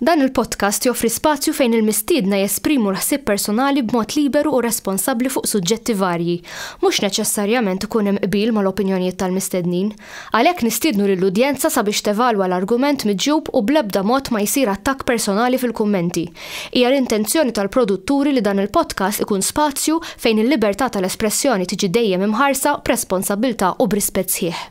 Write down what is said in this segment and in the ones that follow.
Dan il-podcast joffri spazju fejn il-mistiedna jesprimu l-ħsieb personali b'mod liberu u responsabbli fuq suġġetti varji. Mhux neċessarjament ikun hemm qbil mal-opinjonijiet tal-mistednin. Għalhekk nistiednu lill-udjenza sabiex tevalwa l-argument miġjub u bl-ebda mod ma jsir attakk personali fil-kummenti. Hija l-intenzjoni tal-produtturi li dan il-podcast ikun spazju fejn il-libertà tal-espressjoni tiġi dejjem imħarsa b'responsabbiltà u b'rispett sħiħ.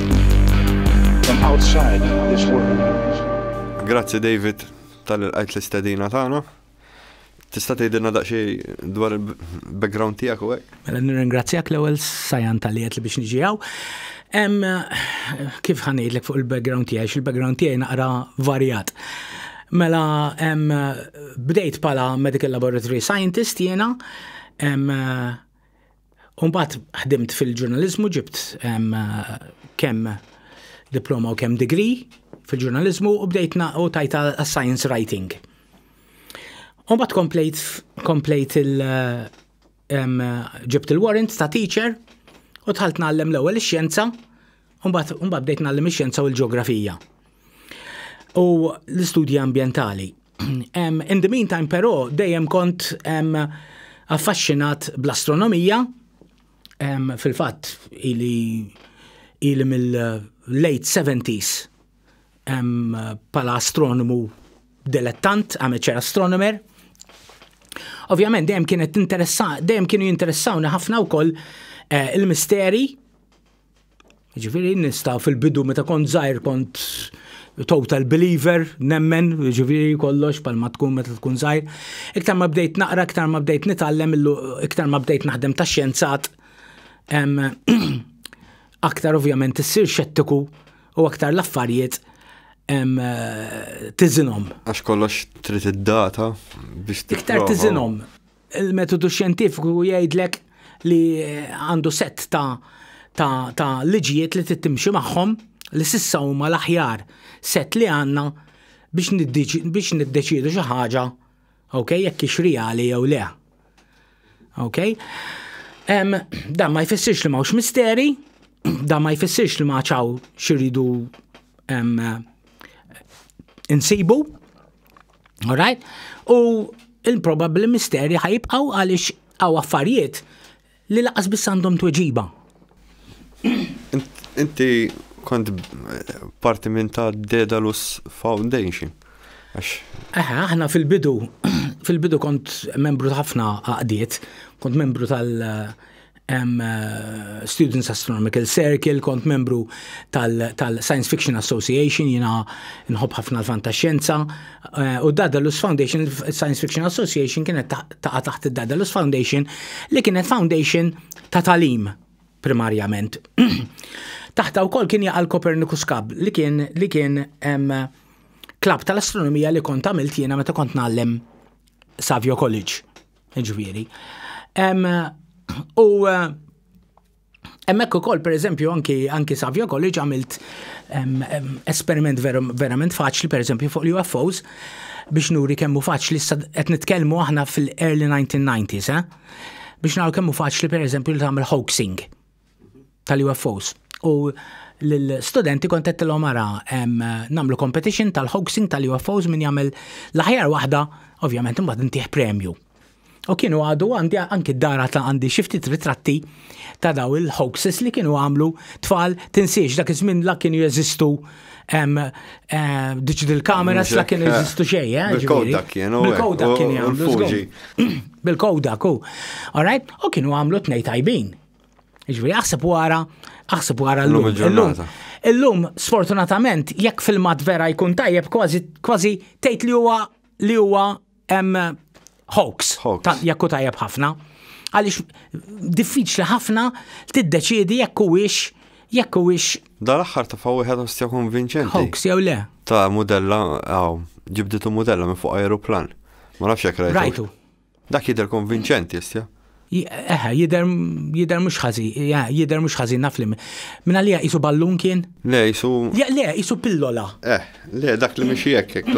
Grazzi David tal-qajt l-istedina tagħna. Tista' tgħidilna daqsxejn dwar il-background tiegħek u hekk? Mela nirringrazzjak l-ewwel sajan tal-li li biex niġi hawn. Kif ħanejdlek fuq il-background tiegħi, il-background tiegħi naqra varjat. Mela bdejt bħala medical laboratory scientist jiena U mbagħad ħdimt fil-ġurnaliżmu ġibt kemm diploma u kemm degree fil-ġurnaliżmu u bdejt u tajta science writing. U mbagħad komplejt komplejt il ġibt il-warrant ta' teacher u tħalt nagħllem l-ewwel ix-xjenza Mbagħad mbagħad bdejt nagħllim ix-xjenza u l-ġeografija. U l-istudji ambjentali. In the meantime però dejjem kont affaxxinat bl-astronomija fil-fatt ili ili mill-late 70s pala astronomu dilettant, amateur astronomer. Ovvjament dejjem kienet interessa, dejjem kienu jinteressawni ħafna wkoll eh, il-misteri Ġifiri nista fil-bidu meta kont zaħir kont total believer, nemmen, ġifiri kollox pal ma tkun meta tkun zaħir. Iktar ma bdejt naqra, iktar ma bdejt nitallem, iktar ma bdejt naħdem ta' xjenzat, aktar ovvjament issir xettiku u aktar l-affarijiet tizinom. Għax kollox trid id-data biex Iktar tizinom. Il-metodu xjentifiku jgħidlek li għandu set ta' ta', ta liġijiet li tittimxi magħhom li sissa huma l-aħjar set li għandna biex niddeċiedu xi ħaġa ok, jekk hix reali jew le. Ok? Um, dan ma jfissirx li m'hawnx misteri, dan ma jfissirx li ma ċaw xiridu um, insibu, Alright? U il-probabli misteri ħajibqaw għaliex għaw affarijiet li laqas biss għandhom tweġiba. Inti kont parti minn ta' Dedalus Foundation. Aha, aħna fil-bidu, fil-bidu kont membru ta' ħafna għaqdiet, kont membru tal- um, uh, Students Astronomical Circle, kont membru tal-Science tal Fiction Association, jina nħob ħafna l-fantaxxenza, uh, u Dadalus Foundation, Science Fiction Association kienet taqa taħt il-Dadalus Foundation, li kienet foundation ta' talim primarjament. Taħta u kol kien jaqal Copernicus Cub, li kien, li kien um, klab tal-astronomija li kont għamilt jiena meta kont nallem Savio College. Ġviri. U Emmek u koll, per eżempju, anki, anki Savio College għamilt esperiment ver, verament faċli, per eżempju, fuq l-UFOs, biex nuri kemmu faċli, qed nitkellmu aħna fil-early 1990s, eh? biex naraw kemmu faċli, per eżempju, li tagħmel hoaxing. tal-UFOs. U l-studenti kont qed tilhom ara nagħmlu competition tal-hoaxing tal-UFOs min jagħmel l-aħjar waħda, ovvjament imbagħad intih premju. U kienu għadu għandi anki d-dara ta' għandi xifti ritratti ta' daw il-hoaxes li kienu għamlu tfal tinsiex dak iż-żmien la kienu jeżistu diġ il-kameras la kienu jeżistu xejn. Eh, Bil-kodak kienu. Bil-kodak kienu. Bil-kodak, u. All right? U kienu għamlu tnej tajbin. Ġviri, aħseb wara, aħseb wara l-lum. Illum, sfortunatament, jekk filmat vera jkun tajjeb, kważi tgħid li huwa li huwa hoax, jekk tajjeb ħafna. Għaliex diffiċli ħafna tiddeċiedi jekk huwiex jekk huwiex. Dal-aħħar ta' fawi ħed ostja konvinċenti. Hoax jew le. Ta' mudella, għaw, ġibditu mudella minn fuq aeroplan. Ma nafx jekk rajtu. Rajtu. Dak jidher konvinċenti issa. Eħe, jider, jider mux ħazi, jider mux ħazi naf li. Minna li jisu ballun kien? Le, jisu. Le, jisu pillola. Eh, le, dak li mxie jekkek,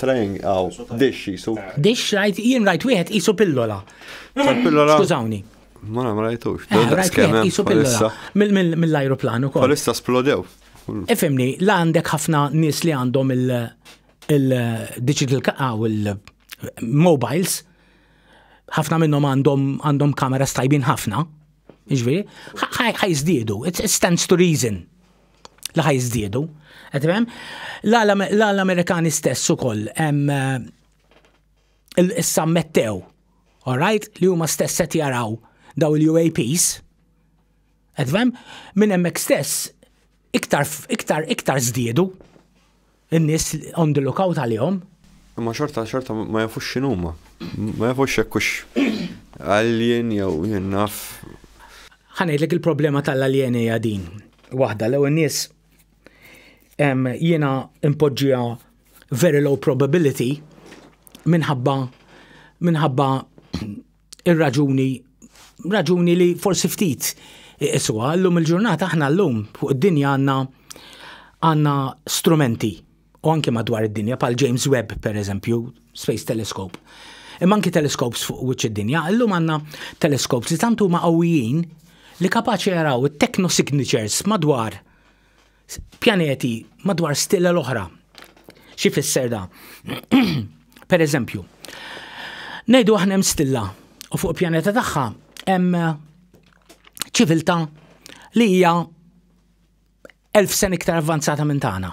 trajn għaw, dix jisu. Dix rajt, jien rajt wieħed jisu pillola. Pillola. Skużawni. Ma ma rajtux. Eh, rajt wieħed jisu pillola. Mill-ajruplan u kol. Palissa splodew. Ifimni, la għandek ħafna nis li għandhom il- il-digital u il-mobiles, ħafna minnhom għandhom għandhom kamera stajbin ħafna, ġviri, ħajżdiedu, it stands to reason li ħajżdiedu. Għetrem, l-Amerikani stess u koll, il-sammettew, all right, li huma stess qed jaraw daw il-UAPs, Edfem, minn hemmhekk stess iktar iktar iktar żdiedu n-nies on the lookout għalihom. Imma xorta xorta ma jafux x'inhuma. Ma jafux hekk hux alien jew jien naf. Ħanejdlek il-problema tal-aljeni hija din. Waħda l nies jiena impoġġija very low probability minħabba minħabba Ir-raġuni, raġuni li forsi ftit isuha, llum il-ġurnata aħna llum fuq id-dinja għandna għandna strumenti u anke madwar id-dinja pal James Webb per eżempju, Space Telescope. Imma anki teleskops fuq wiċċ id-dinja, llum għandna teleskops li tant huma qawwijin li kapaċi jaraw it-techno signatures madwar pjaneti madwar stilla l-oħra. Xi fisser da? per eżempju, ngħidu aħna hemm stilla u fuq pjaneta tagħha hemm ċiviltà li hija elf sen iktar avvanzata minn tagħna.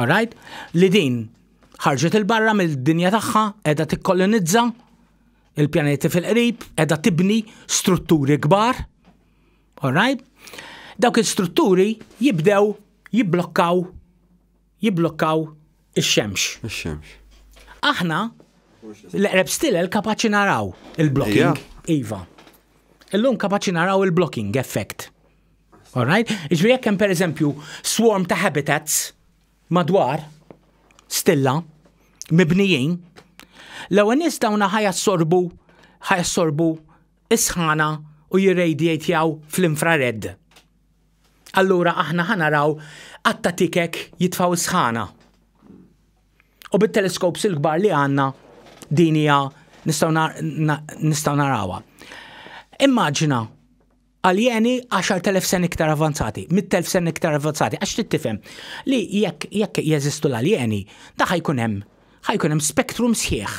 Alright? Li din ħarġet il-barra mill-dinja tagħha qiegħda tikkolonizza il-pjaneti fil-qrib, qiegħda tibni strutturi kbar Alright? Dawk il-strutturi jibdew jibblokkaw jibblokkaw ix-xemx. Ix-xemx. Aħna l-eqreb stilel kapaċi naraw il-blocking. Iva. Illum kapaċi naraw il-blocking effect. Alright? Iġri jekk hemm pereżempju swarm ta' habitats madwar stilla mibnijin, l-ewwel nies dawna ħajassorbu ħajassorbu is-sħana u jirradiatjaw fl-infrared. Allura aħna ħa naraw għadd ta' tikek jitfgħu s-sħana. U bit-teleskops il-kbar li għandna din hija nistgħu narawha. Immaġina aljeni 10,000 sen iktar avanzati, 100,000 sen iktar avanzati, għax trid tifhem li jekk jekk jeżistu l-aljeni, da ħajkun hemm ħajkun hemm spektrum sħiħ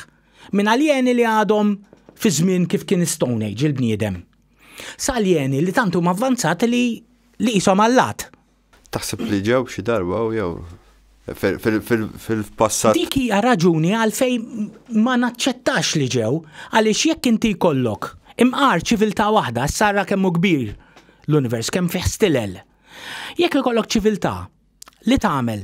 Minn aljeni li għadhom fi żmien kif kien Stone Age il-bniedem. Sa aljeni li tant huma avvanzati li li qishom allat. Taħseb li ġew xi darba u jew fil-passat. Dik hija raġuni għalfejn ma naċċettax li ġew, għaliex jekk inti jkollok imqar ċiviltà waħda, issa ara kemm hu kbir l-univers, kemm fih stilel. Jekk ikollok ċiviltà li tagħmel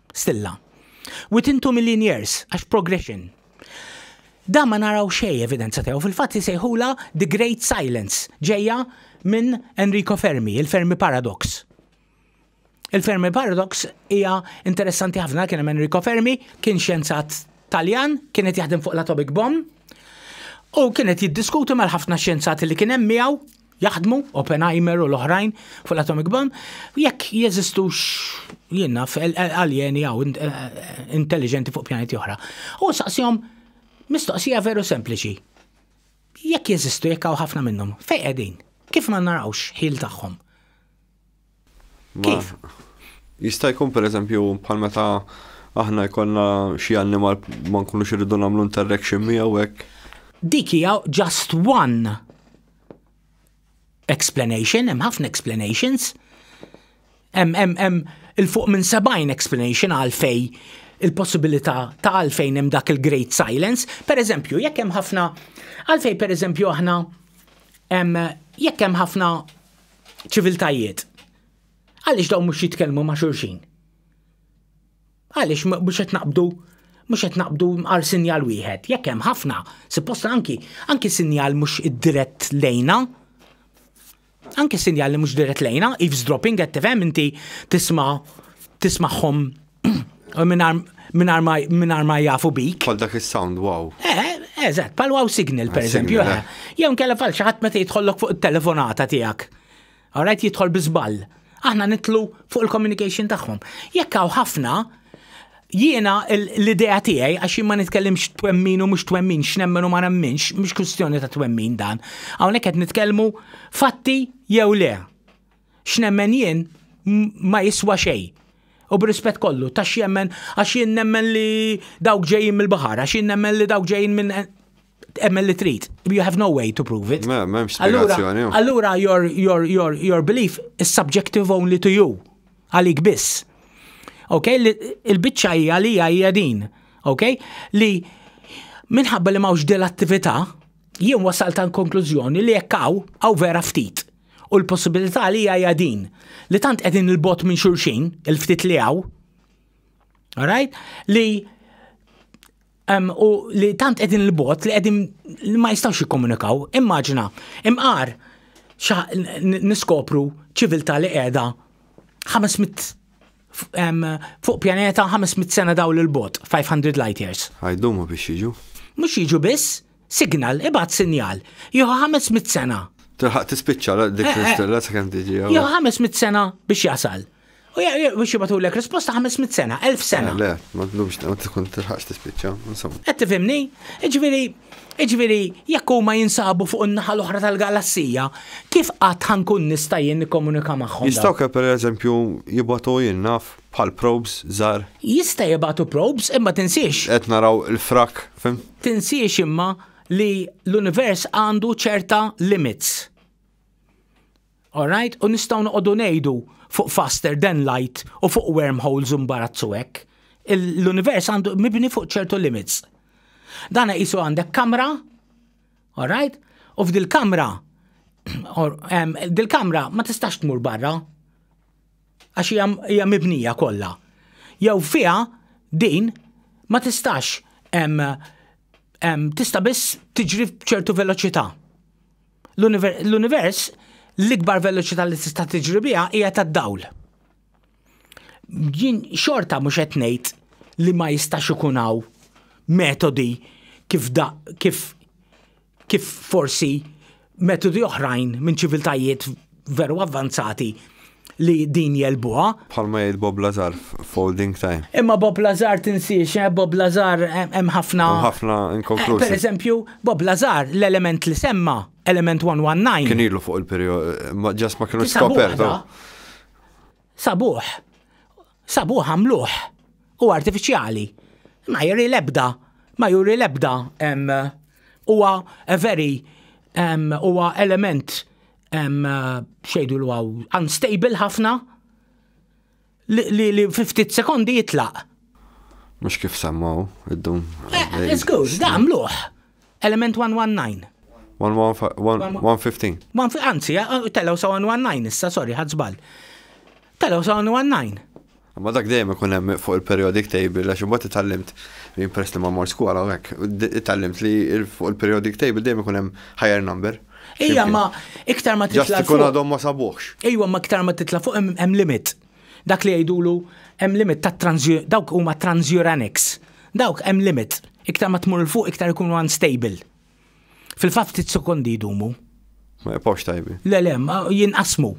stilla. Within two million years, għax progression. Da ma naraw xej evidenza tiegħu fil-fatt li sejħula The Great Silence ġejja minn Enrico Fermi, il-Fermi Paradox. Il-Fermi Paradox hija interessanti ħafna kien hemm Enrico Fermi, kien xjenzat Taljan, kien qed jaħdem fuq l-atomic bomb, u kien qed jiddiskuti mal-ħafna xjenzati li kien hemm miegħu jaħdmu, Oppenheimer u l-oħrajn fuq l-atomic bomb, jekk jeżistux jienna aljeni għaw eh, eh, intelligenti fuq pjaneti oħra. U saqsijom mistoqsija veru sempliċi. Jekk jeżistu jekk hawn ħafna minnhom, fejn qegħdin? Kif ma narawx ħil tagħhom? Kif? Jista' jkun pereżempju bħal meta aħna jkollna xi annimal ma nkunux irridu nagħmlu interaction miegħu hekk. Dik hija just one explanation, hemm ħafna explanations. Hemm hemm hemm il-fuq minn 70 explanation għalfej il-possibilità ta' għalfejn hemm dak il-great silence. Per eżempju, jekk hemm ħafna għalfej per eżempju aħna jekk hemm ħafna ċiviltajiet. Għaliex dawn mhux jitkellmu ma' xulxin? Għaliex mhux qed naqbdu mhux qed naqbdu għal sinjal wieħed, jekk hemm ħafna, supposta anki anki sinjal mhux dirett lejna. Anki sinjal li mhux dirett lejna, eavesdropping qed tifhem inti tisma' tismagħhom Minar ma jafu bik. Pal dak il-sound, wow. Eh, eżat, pal wow signal, per eżempju. Eh. Eh. Jew nkella fal xaħat meta jitħollok fuq il-telefonata tijak. Alright, jitħol bizbal. Aħna nitlu fuq il-communication tagħhom. Jekk hawn ħafna, jiena l-idea tiegħi għax ma nitkellimx twemmin u mhux twemmin, x'nemmen u ma nemminx, mhux kwistjoni ta' twemmin dan. Hawnhekk qed nitkellmu fatti jew le. x'nemmen jien ma jiswa xejn. U b'rispett kollu, ta' x'jemmen, għax jien nemmen li dawk ġejjin mill-baħar, għax jien nemmen li dawk ġejjin minn emmen li trid. You have no way to prove it. Allura, allura your, your, your, your belief is subjective only to you. Għalik biss. Ok, il-bicċa hija li hija din. Ok, li minħabba li mawx dil-attività, jien wasal ta' konklużjoni li jekk hawn vera ftit. U l-possibilità li hija din li tant qegħdin il-bot minn xulxin, il-ftit li hawn, right? li um, u li tant qegħdin il-bot li qegħdin li ma jistgħux jikkomunikaw. Immaġina, imqar niskopru ċiviltà li qiegħda 500 fuq pjaneta 500 sena dawl il-bot, 500 light years. Għajdumu biex jiġu. Mux jiġu biss, Signal, ibgħat sinjal. Jieħu 500 sena. Tilħaq tispiċċa dik eh, eh. l sakemm tiġi. Jieħu 500 sena biex jasal. U biex jibatu l-ek risposta 500 sena, 1000 sena. Le, ma t-lubx, ma t-tkun t-ħax t-spicċa, insomma. Għed t-fimni, iġviri, iġviri, jekku ma jinsabu fuq n-naħal l-oħra tal-galassija, kif għat ħankun nistajjen nikomunika maħħom? Jistaw ke per eżempju jibatu jinnaf bħal probes zar. Jista jibatu probes, imma tinsiex. Għed naraw il-frak, fim? Tinsiex imma li l-univers għandu ċerta limits. Alright? U nistgħu noqogħdu ngħidu fuq faster than light u fuq wormholes imbarazzu hekk. L-univers għandu mibni fuq ċertu limits. Dan jisu għandek kamra, alright? U f'dil-kamra, dil-kamra ma tistax tmur barra. għax hija hija mibnija kollha. Jew fiha din ma tistax em, em, tista' biss tiġri b'ċertu veloċità. L-univer- L-univers l-ikbar veloċità li tista' tiġri biha hija tad-dawl. Jien xorta mhux qed ngħid li ma jistax ikun hawn metodi kif da kif kif forsi metodi oħrajn minn ċiviltajiet veru avvanzati li din jelbuha. Bħalma jgħid Bob Lazar folding time. Imma Bob Lazar tinsiex, eh, Bob Lazar eh, hemm ħafna. Hemm ħafna inkonklużi. Eh, per eżempju, Bob Lazar l-element li semma, element 119. Kien ilu fuq il-perjodu, ġas ma kienu skopertu. Sabuħ. Sabuh għamluh u artifiċjali. Ma juri l-ebda, ma juri l-ebda huwa a very huwa element xejdu l unstable ħafna li fi ftit sekondi jitlaq. Mhux kif semmaw id-dum. Iżgur, da għamluh. Element 119. 115. Anzi, eh, eh, telgħu sa 119 issa, sorry, ħadd żball. Telgħu sa 119. Ma dak dejjem ikun hemm fuq il-periodic table għax imbagħad itallimt li impress li ma mor skola u hekk. Itallimt li fuq il-periodic table dejjem ikun hemm higher number. Ejja ma iktar ma titla' fuq. Ikun għadhom ma sabuħx. Ejja ma iktar ma titla' fuq hemm limit. Dak li jgħidulu hemm limit ta' dawk huma transuranics. Dawk hemm limit. Iktar ma tmur 'l fuq iktar ikunu unstable. Fil-fatt ftit sekondi jdumu. Ma jibqgħux tajbin. Le le, jinqasmu.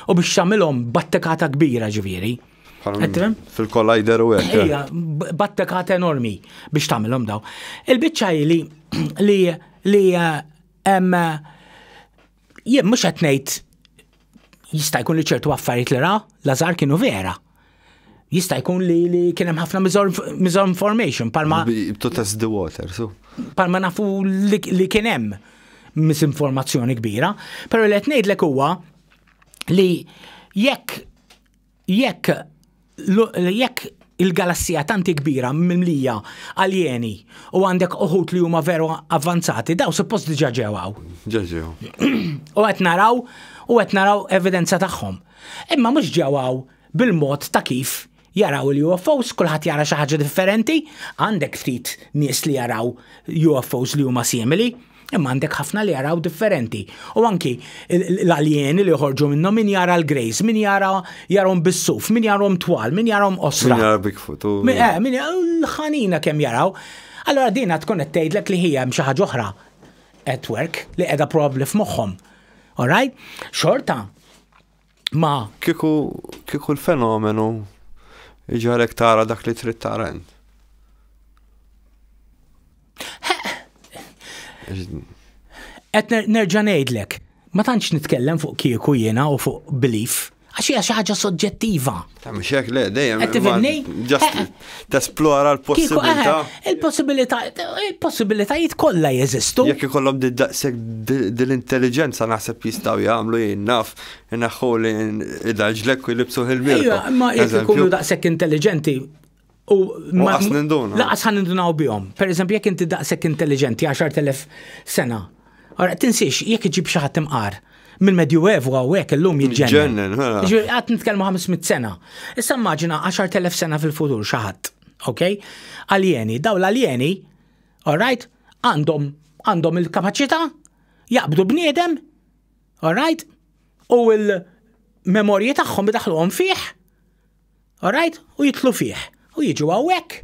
U biex tagħmilhom battekata kbira ġifieri. Fil-kollajder u hekk. Ejja, battekata enormi biex tagħmilhom daw. Il-biċċa hi li li hemm Jien mhux qed ngħid jista' jkun li ċertu affarijiet li ra Lazar kienu vera. Jista' jkun li, li kien hemm ħafna misinformation palma. To test the water, so. Palma nafu li, li kien hemm misinformazzjoni kbira, però li qed ngħidlek huwa li jekk Jekk jekk il-galassija tanti kbira mimlija aljeni u għandek uħut li huma veru avvanzati, daw suppost diġa ġewaw. Ġeġew. U qed naraw u qed naraw evidenza tagħhom. Imma mhux ġewaw bil-mod ta' kif jaraw il-UFOs, kulħadd jara xi ħaġa differenti, għandek ftit nies li jaraw UFOs li huma simili. Imma għandek ħafna li jaraw differenti. U anki l-aljeni li joħorġu minnhom min jara l-grejs, min jara jarhom bis-suf, min jarhom twal, min jarhom osra. Min jara Bigfoot. Min eh, jara l-ħanina kemm jaraw. Allora dina tkun qed tgħidlek li hija xi ħaġa oħra at work li qiegħda probabbli f'moħħhom. Alright? Xorta ma. Kiku, kiku l-fenomenu iġalek tara dak li trid tara int. Qed nerġa' ngħidlek, ma tantx nitkellem fuq kieku jiena u fuq belief, għax hija xi ħaġa soġġettiva. Mhux hekk le dejjem. Qed tifhimni? tesplora l-possibilità. Eh, il-possibilità, il-possibilitajiet kollha jeżistu. Jekk ikollhom daqshekk dil-intelligenza naħseb jistgħu jagħmlu jien naf inaħħu li idaġlek u jlibsu il-mirka. Iva, ma jekk ikunu daqshekk intelligenti u ma laqas nindunaw bihom. Per eżempju, jekk inti daqshekk intelligenti 10,000 sena Ara, tinsiex, jekk iġib xi ħadd imqar, mill-Medjuevu hawnhekk illum jiġġenna. Ġennen, ha. Ġifieri qatt nitkellmu 500 sena. Issa immaġina 10,000 sena fil-futur xi ħadd, ok? Aljeni, daw l-aljeni, all right, għandhom għandhom il-kapaċità jaqbdu bniedem, all right, u l-memorji tagħhom idaħluhom fih, all right, u jitlu fih, u jiġu hawnhekk.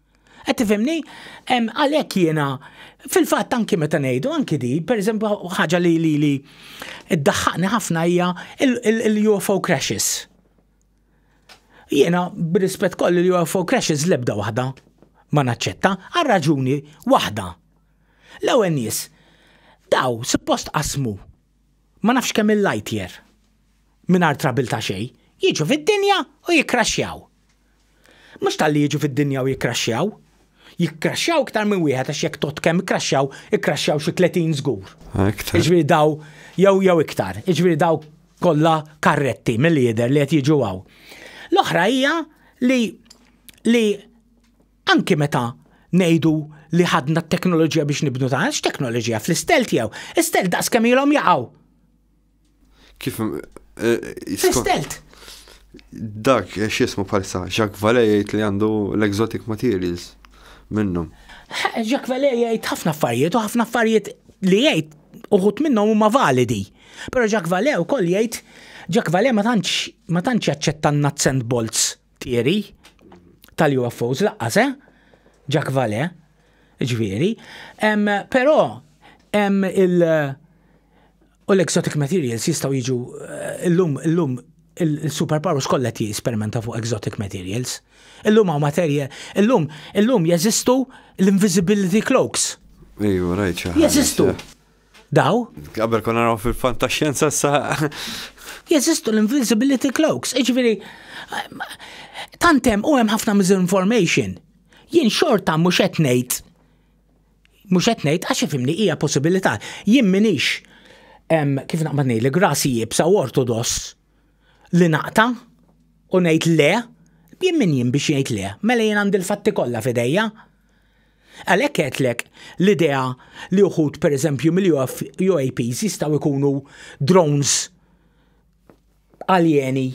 Qed tifhimni? Għalhekk jiena fil-fatt anki meta ngħidu anki di, pereżempju ħaġa li li li ddaħħaqni ħafna hija l-UFO crashes. Jiena b'rispett kollu l-UFO crashes l-ebda waħda ma naċċetta għal raġuni waħda. L-ewwel nies daw suppost qasmu Ma nafx kemm il-lightyear, mingħajr trouble ta' xejn, jiġu fid-dinja u jikkraxxjaw. Mhux talli jiġu fid-dinja u jikkraxxjaw. Jikkraxxjaw iktar minn wieħed għax jekk tgħodd kemm ikkraxxjaw, ikkraxxjaw xi tletin żgur. Iktar. Jiġifieri daw jew jew iktar, jiġifieri daw kollha karretti milli jidher li qed jiġu hawn. L-oħra hija li li Anki meta ngħidu li ħadna t-teknoloġija biex nibnu dan, x'teknoloġija fl-istel tiegħu? Istel daqs kemm ilhom jaqgħu. Kif eh, Fl-istelt. Dak eh, x'ismu palsa, Jacques Valley jgħid li għandu l-exotic materials minnhom. Jacques Valley jgħid ħafna affarijiet u ħafna affarijiet li jgħid uħut minnhom huma validi. Però Jacques Valley wkoll jgħid Jacques Valley ma tantx ma tantx jaċċetta n-nuts and bolts Tieri tal-UFOs laqqas, eh? Jack Vale, ġviri. Però hemm il- u l-exotic materials jistgħu jiġu eh, illum illum il-superpowers kollha jisperimenta fuq exotic materials. Illum hawn materja, illum illum jeżistu l-invisibility cloaks. Iju, rajt Jeżistu. Daw? Qabel kon naraw fil-fantaxjenza sa. Jeżistu l-invisibility cloaks, iġviri, tantem u hemm ħafna misinformation. Jien xorta mhux qed ngħid mhux qed ngħid għax ifimni hija possibilità. Jien minix kif naqbad ngħid li grasi jibsa u ortodoss li naqta u ngħid le, jien min jien biex jgħid le, mela jien għandi l-fatti kollha f'idejja. Għalhekk għedtlek l-idea li uħud pereżempju mill-UAPs jistgħu jkunu drones aljeni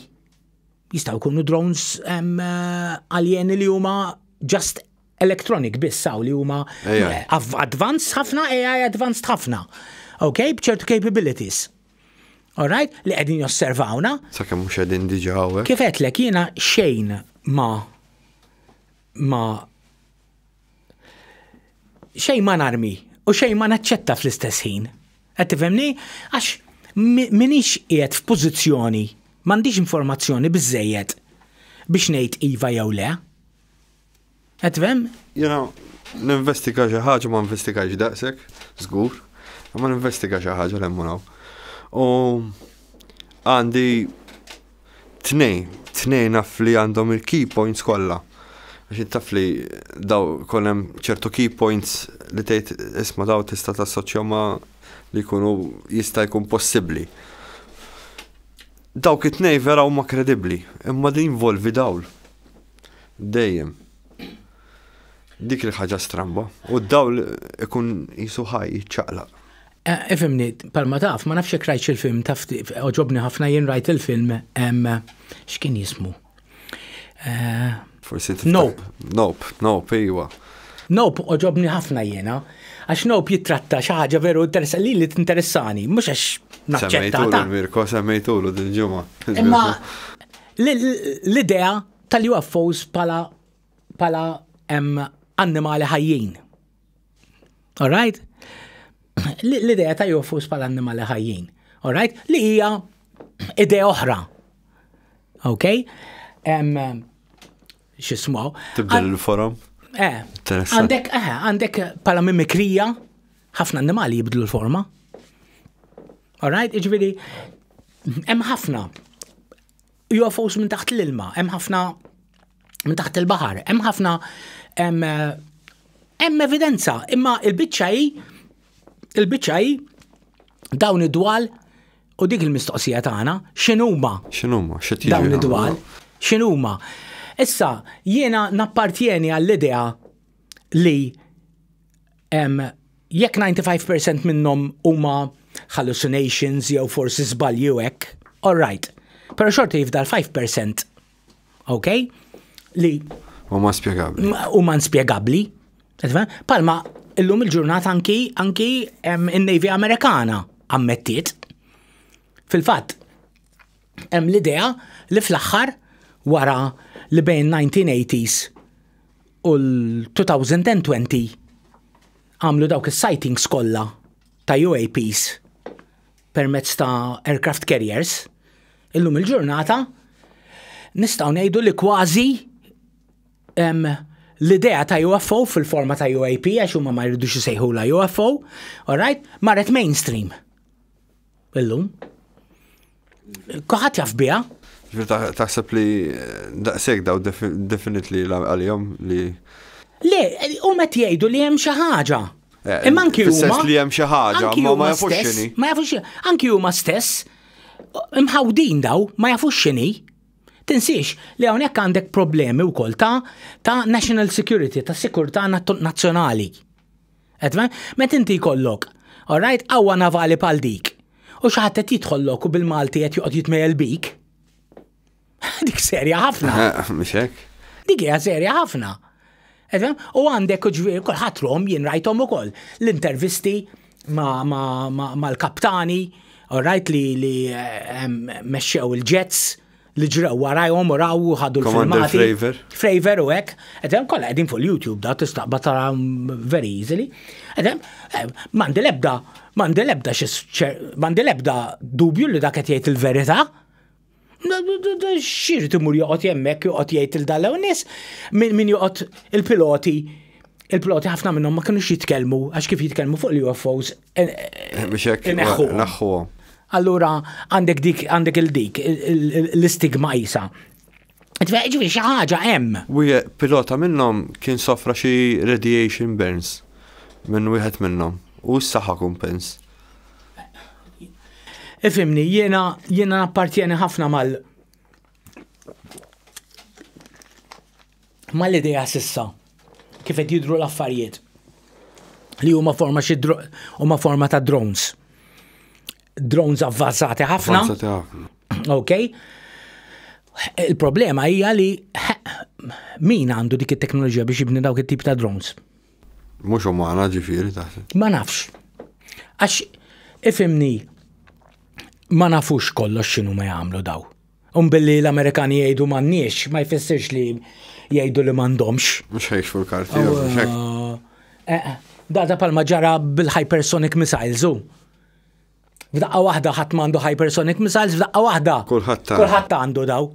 jistgħu jkunu drones aljeni li huma just electronic biss hawn li huma advanced ħafna, AI advanced ħafna. Ok, bċertu capabilities. All right, li qegħdin josservawna. Sakemm mhux qegħdin diġà Kif qedlek jiena xejn ma ma xejn ma narmi u xejn ma naċċetta fl-istess ħin. Qed tifhemni? Għax minix qiegħed f'pożizzjoni, m'għandix informazzjoni biżejjed biex ngħid iva jew le. Qed tifhem? Jena, ninvestiga xi ħaġa ma investigajx daqshekk, żgur, ma ninvestiga xi ħaġa l-emmunaw. U għandi tnejn, tnejn naf li għandhom il-key points kollha. Għax int taf li daw kon hemm ċertu key points li tgħid isma' daw tista' tassoċja ma' li jkunu jista' jkun possibbli. Dawk it-tnejn vera huma kredibbli, imma din jinvolvi dawl. Dejjem. Dik il-ħaġa stramba. U d-dawl ikun qisu ħaj, jiċċaqlaq. Eh, ifimni, palma taf, ma nafx jekk rajtx il-film taf oġobni ħafna jien rajt il-film x'kien jismu. Eh, Forsi Nope. Nope, nope, iwa. Nope oġobni ħafna jiena, għax nope jitratta xi ħaġa veru interessa li li tinteressani, mhux għax naċċetta. Semmejtulu Mirko, semmejtulu din ġimgħa. Imma l-idea tal-UFOs pala pala annimali ħajjin. Alright? L-idea ta' jofus pal annimali ħajjin. Alright? Li hija idea oħra. Ok? Xismu? Tibdel il-forum? Eh. Għandek, eh, għandek pala mimikrija, ħafna annimali jibdlu l-forma. Alright? Iġviri, hemm ħafna UFOs minn taħt l-ilma, hemm ħafna minn taħt il-baħar, hemm ħafna hemm evidenza, imma il-biċċa hi il-biċċa hi dawn id-dwal u dik il-mistoqsija tagħna x'inhuma? X'inhuma? Dawn id-dwal x'inhuma? Issa jiena nappartjeni għall-idea li Jekk 95% minnhom huma hallucinations jew forsi żbalji u hekk, all right. Però xorta jifdal 5%, ok? Li huma spjegabbli. Huma nspjegabbli. Palma illum il-ġurnata anki anki in-Navy Amerikana ammettiet. Fil-fatt, Hemm l-idea li fl-aħħar wara li bejn 1980s u l-2020 għamlu dawk is-sightings kollha ta' UAPs permezz ta' aircraft carriers, illum il-ġurnata nistgħu ngħidu li kważi l-idea ta' UFO fil-forma ta' UAP għax huma ma jridux isejħula UFO, all right, marret mainstream. Illum. Kuħat jaf biha. Taħseb li eh, daqseg daw definit li għal-jom li. Le, u met jgħidu li hemm xi ħaġa. Eh, Imma anki huma. li hemm xi ħaġa, ma jafux xini. Ma jafux xini. Anki huma stess, mħawdin daw, ma jafux xini. Tinsiex li hawnhekk għandek problemi wkoll ta' ta' national security, ta' sikurtà nazzjonali. Etma, met inti jkollok, alright, qawwa navali bħal dik, u xi ħadd qed jidħollok u bil-Malti qed joqgħod jitmejjel bik. Dik serja ħafna. Mhux hekk. Dik hija serja ħafna. U għandek ġviri, kulħadd rom jien rajthom ukoll l-intervisti mal-kaptani, alright li eh, mexxew il-ġets, li ġraw warajhom u raw u ħadu l-filmati. Fravor. Fravor u hekk. Edem kollha qegħdin fuq YouTube da tistaqba tara very easily. Edem eh, m'għandi lebda m'għandi lebda m'għandi lebda dubju li dak qed jgħid il-verità. Xir timur joqgħod jemmek joqgħod jgħid il-dalew nies min joqgħod il-piloti il-piloti ħafna minnhom ma kinux jitkellmu għax kif jitkellmu fuq l-UFOs Naħħuhom. Allura għandek dik għandek il-dik l-istigma isa. Ġifieri xi ħaġa hemm. Wieħed pilota minnhom kien sofra xi radiation burns minn wieħed minnhom u s-saħħa kumpens. Ifimni, jiena jiena appartjeni ħafna mal mal-idea sissa kif qed jidru l-affarijiet li huma forma xi huma forma ta' drones. Drones avvanzati ħafna. Avvanzati ħafna. Ok. Il-problema hija li min għandu dik it-teknoloġija biex jibni dawk it-tip ta' drones? Mhux umana ġifieri taħseb. Ma nafx. Għax ifimni ma nafux kollox x'inhu ma jagħmlu daw. U billi l-Amerikani jgħidu m'għandniex, ma jfissirx li jgħidu li m'għandhomx. Mhux ħejxu l-karti, eh, eh, Da da palma ġara bil-hypersonic missiles, u. F'daqqa waħda ħadd m'għandu hypersonic missiles, f'daqqa waħda. Kulħadd Kulħadd għandu daw.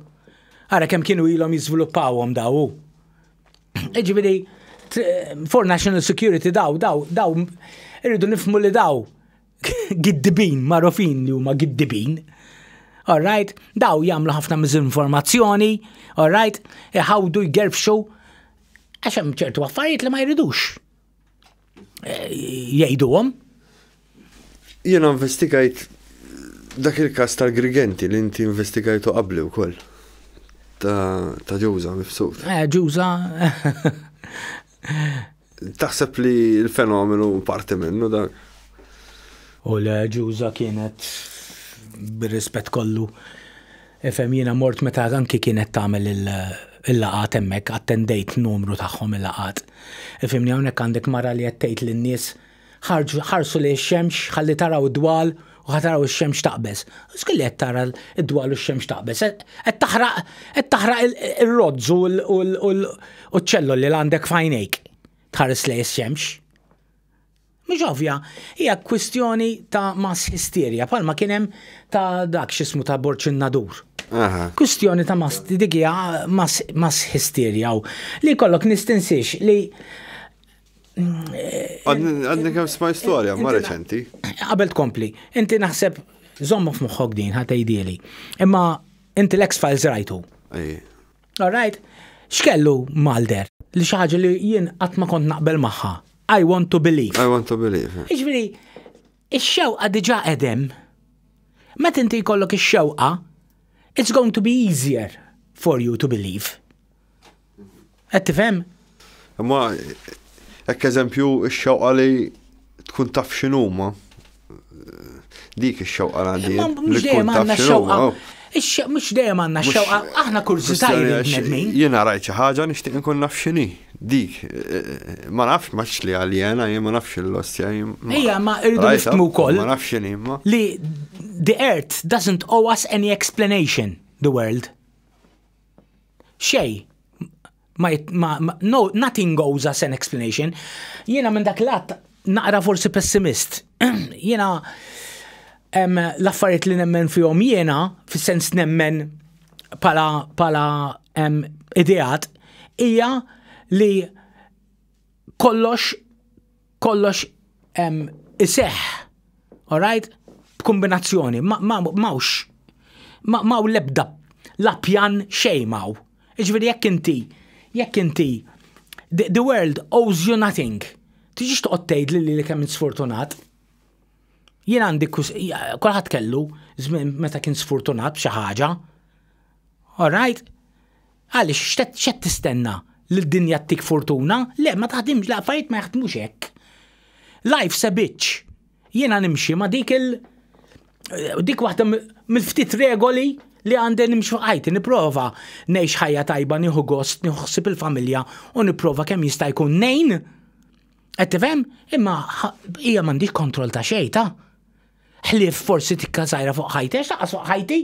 Ara kemm kienu ilhom jiżviluppawhom daw. Iġifieri for national security daw, daw, daw, irridu nifmu li daw giddibin marufin li huma giddibin. Alright, daw jagħmlu ħafna miżinformazzjoni, alright, iħawdu jgerfxu għax hemm ċertu affarijiet li ma jridux eh, jgħiduhom. Jiena investigajt dak il-każ tal-Grigenti li inti investigajtu qabli wkoll ta' ġuża mifsud. Eh, ġuża Taħseb li l-fenomenu parti minnu dan? U le ġuża kienet bir-rispett kollu. Ifhem jiena mort meta anki kienet tagħmel il-laqat hemmhekk attendejt numru tagħhom il-laqat. Ifhimni hawnhekk għandek mara li qed tgħid lin-nies Ħarġu, ħarsu lejn ix-xemx, ħalli taraw id-dwal u ħa taraw ix-xemx taqbeż. Skulli qed tara id-dwal u x-xemx taqbeż, qed taħraq qed taħraq ir-rozz u ċ-ċelloli li għandek f'għajnejk tħares lejn ix-xemx. Mhux ovvja, hija kwistjoni ta' mass hysteria, palma kien hemm ta' dak x'ismu ta' Borċin Nadur. Kwistjoni ta' mass dik hija mass hysteria li kollok nistinsiex li Għadni kem sma istoria, ma reċenti. Qabel tkompli, inti naħseb zommu f'moħħok din ħatejdili. Imma inti l-ex files rajtu. All right? X'kellu Malder li xi ħaġa li jien qatt ma kont naqbel magħha. I want to believe. I want to believe. Iġviri, Ix-xewqa diġà qed hemm. Meta inti jkollok ix-xewqa, it's going to be easier for you to believe. Qed tifhem? Imma hekk eżempju x-xewqa li tkun taf x'inhuma. Dik ix-xewqa għandi. Mhux dejjem għandna xewqa. Mhux dejjem għandna x-xewqa, aħna kurżità jridu l-bnedmin. Jiena rajt xi ħaġa nixtieq inkun naf x'inhi dik. Ma nafx ma tix li aljena, jien ma nafx l-ostja. Ejja, ma irridu nifhmu wkoll. Ma nafx x'inhi ma. Li the earth doesn't owe us any explanation, the world. Xej, ma, ma, no, nothing goes as an explanation. Jiena minn dak l-att naqra forsi pessimist. jiena l-affarijiet li nemmen fihom jiena, fis-sens nemmen pala, pala em, ideat, hija li kollox kollox iseħħ, alright? B'kombinazzjoni, mawx, maw lebda, la pjan xej maw. Iġveri jekk inti, jekk inti, the world owes you nothing. Tiġiġ toqgħod tgħid li li kemm sfortunat. Jien għandi kulħadd kellu żmien meta kien sfortunat xi ħaġa. All right? Għaliex x'qed x'qed tistenna? Li d-dinja ttik fortuna? Le, ma taħdimx, l-affarijiet ma jaħdmux hekk. Life se bitch. Jiena nimxi ma dik il- dik waħda mill-ftit regoli li għandi nimxu ħajti, niprofa ngħix ħajja tajba, nieħu gost, nieħu ħsib il-familja u niprofa kemm jista' jkun nejn. Qed tifhem? Imma hija m'għandix kontroll ta' xejn ta'. Ħlief forsi tikka sajra fuq ħajti, għax fuq ħajti.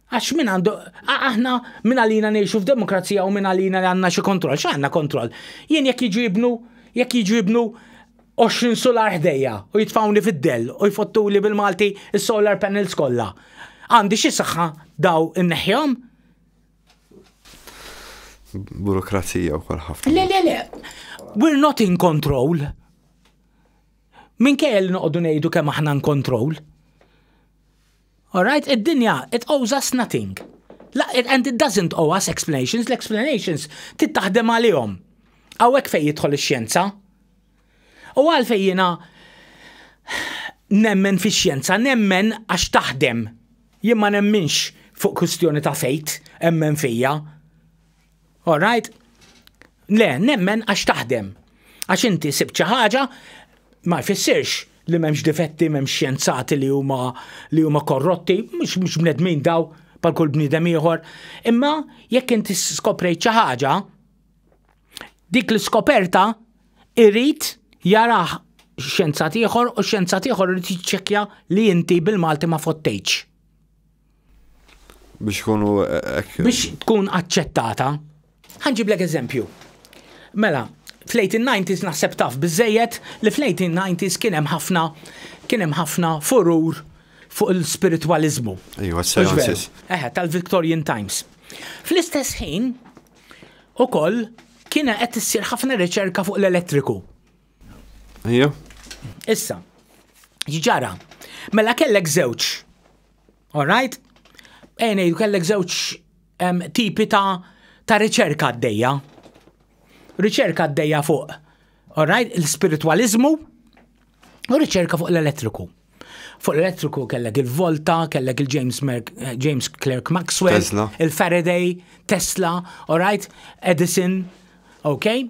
Għax min għandu, aħna min għalina nejxu f'demokrazija u min għalina għanna xi kontroll, xa għanna kontroll. Jien jekk jiġu jibnu, jekk jiġu jibnu 20 solar ħdejja u jitfawni fid-dell u jfottu li bil-Malti solar panels kollha. Għandi xi saħħa daw inneħjom? Burokrazija u kol ħafna. Le, le, le. We're not in control. Min kell noqdu nejdu kemm aħna in control. Alright, id-dinja, it owes us nothing. La, and it doesn't owe us explanations, l-explanations trid taħdem għalihom. Hawnhekk fejn jidħol ix-xjenza. U għalfejn jiena nemmen fix-xjenza, nemmen għax taħdem. Jien ma nemminx fuq kwistjoni ta' fejt, emmen fija. All right? Le, nemmen għax taħdem. Għax inti sibt xi ħaġa ma jfissirx li m'hemmx difetti, m'hemmx xjenzati li huma li huma korrotti, mhux mhux bnedmin daw pal kull bniedem ieħor. Imma jekk inti skoprejt xi ħaġa, dik l-iskoperta irrid jarah xjenzat ieħor u xjenzat ieħor irid jiċċekkja li inti bil-Malti ma fottejtx. Biex ikunu hekk. Biex tkun aċċettata. Ħanġiblek eżempju. Mela, fl-1890s naħseb taf biżejjed li fl-1890s kien hemm ħafna kien hemm ħafna furur fuq il-spiritwaliżmu. Ejwa, s-seances. Eħe, tal-Victorian Times. Fl-istess ħin, ukoll kien qed issir ħafna riċerka fuq l-elettriku. Ejja. Issa, ġara, mela kellek żewġ All right? Ejn ngħidu kellek żewġ tipi ta' ta' riċerka għaddejja. Riċerka għaddejja fuq, all right, l-spiritualizmu u riċerka fuq l-elettriku. Fuq l-elettriku kellek il-Volta, kellek il-James eh, James Clerk Maxwell, il-Faraday, Tesla, all right, Edison, okay?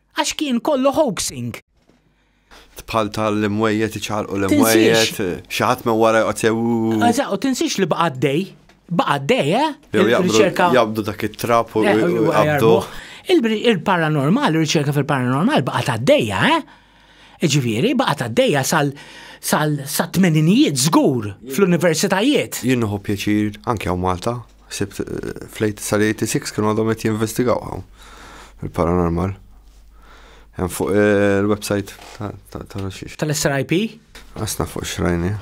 Għax kien kollu hoaxing. Bħal tal-imwejjed iċarqu l-imwejjed, xi ħadd minn wara joqgħod sew. Eżatt, u tinsiex li baqa' dej. Baqa' dej, eh? Il-riċerka. Jabdu dak it-trap u jabdu. Il-paranormal, il-riċerka fil-paranormal baqa' ta' dejja, eh? Ġifieri, baqa' ta' dejja sal sal-tmeninijiet żgur fl-universitajiet. Jinnuħu pjaċir anke hawn Malta. Ħsibt sal-86 kienu għadhom qed jinvestigaw hawn il-paranormal. Hemm fuq eh, il-website ta' xiex. Tal-SRIP? Asna fuq xrajni.